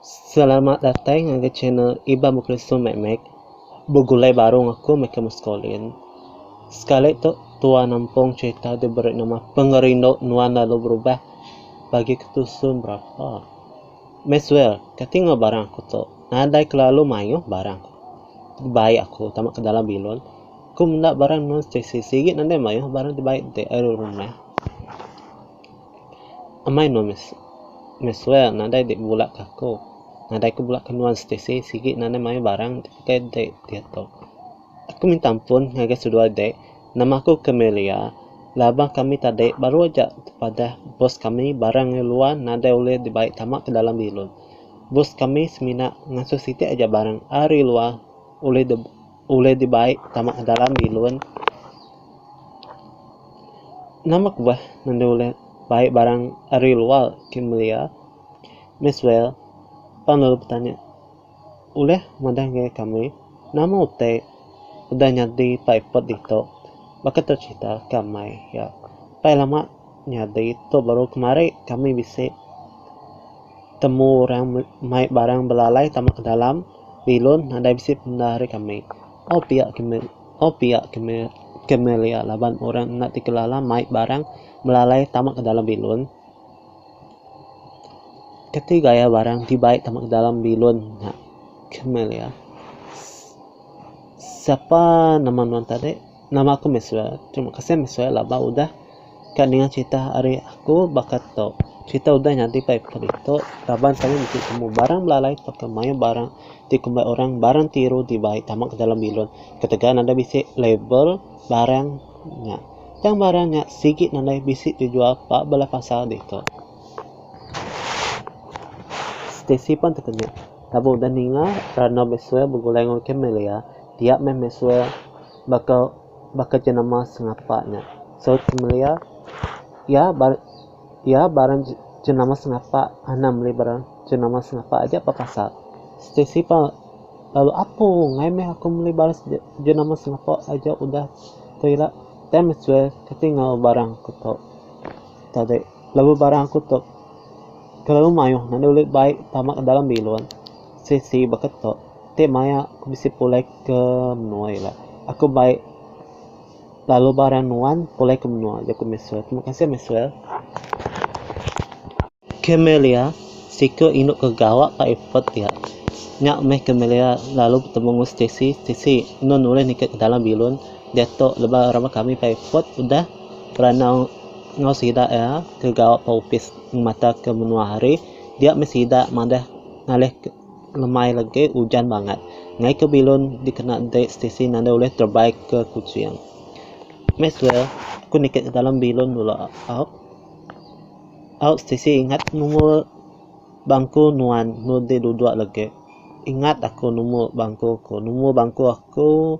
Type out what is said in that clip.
Selamat datai ngagai channel Iban Bukelesu Mek Mek. Begulai baru enggau aku meh ke Muscolin. Sekali tu tua nampung cherita diberi nama Pengerindu Nuan Lalu Berubah bagi ke tu sun berapa. Maxwell, kati enggau barang aku tu. Nadai kelalu mayuh barang aku. Dibai aku tama ke dalam bilun. Aku menda barang nuan Stacy. Sigi nadai mayuh barang dibai ti ari rumah. Amai meh meh suwe nadai dik bebulak ke aku, nadai ku bulak ke nuan Stacey sigi ne nadai mayuh barang ti pekei dik diatu. Aku minta ampun ngagai seduai dik nama aku ke Melia laba kami tadi baru aja tepadah bos kami barang ari luar nadai ulih dibai tama ke dalam bilun. Bos kami semina ngasuh siti aja barang ari luar ulih di. Ulih dibai tama ke dalam bilun. Nama ke beh enda ulih bai barang ari luar ke melia? Miss Well pan lalu betanya, Ulih madah enggau kami nama utai udah nyadi paipet ditu baka tercerita ke amai iya. Pai lama. Nyadi tu baru kemari kami bisi temu orang mai barang belalai tama ke dalam bilun nadai bisi pengendar ari kami. Au pia kemi au pia kemi kemelia laban orang enda ti kelala mai barang belalai tama ke dalam bilun. Keti gaya barang ti bai tama ke dalam bilun nya kemelia. Sapa nama nuan tadi? Nama aku Maxwell. Terima kasih Maxwell laban udah ka ninga cerita ari aku baka tu. Cerita udah nyadi pai ku ditu laban kami mesti temu barang belalai tauka mayuh barang ti kumbai orang barang ti iruh dibai tama ka dalam bilun ketegal nadai bisi label barang nya. Tang barang nya sigi nadai bisi dijual ba bala pasar ditu. Stacy pan teka nya. Lalu udah ninga Rano Messua begulai enggau Camelia, dia meh Messua baka baka jenama sengapa nya. Saut Camelia, Iya ba iya barang jenama sengapa, anang meli barang jenama sengapa aja pah kasar. Stacey pah lalu apung, ngai meh aku meli barang jenama sengapa aja udah tu ila. Tang Messua kati enggau barang aku tu tadi. Lalu barang aku tu kelalu mayuh nadai ulih bai tama ke dalam bilun. Sisi baka tu ti maya aku bisi pulai ke menua ila. Aku bai lalu barang nuan pulai ke menua, jaku Maxwell. Terima kasih Maxwell. Camellia, siku indu ke gawa ka epot dia. Nya meh Camellia lalu betemu enggau Stacy. Stacy, enun ulih ningkatke dalam bilun diatu laban raban kami bai epot udah beranau. Enggau sida iya ke gawa ba opis ngemata ke menua hari dia meh sida madah ngalih lemai legi ujan bangat ngai ke bilun dikena dei stesen enda ulih terebai ke Kuching. Maxwell ku nitih ke dalam bilun dulu au au stesen ingat numur bangku nuan meh deh dudok legi. Ingat aku numur bangku aku, numur bangku aku.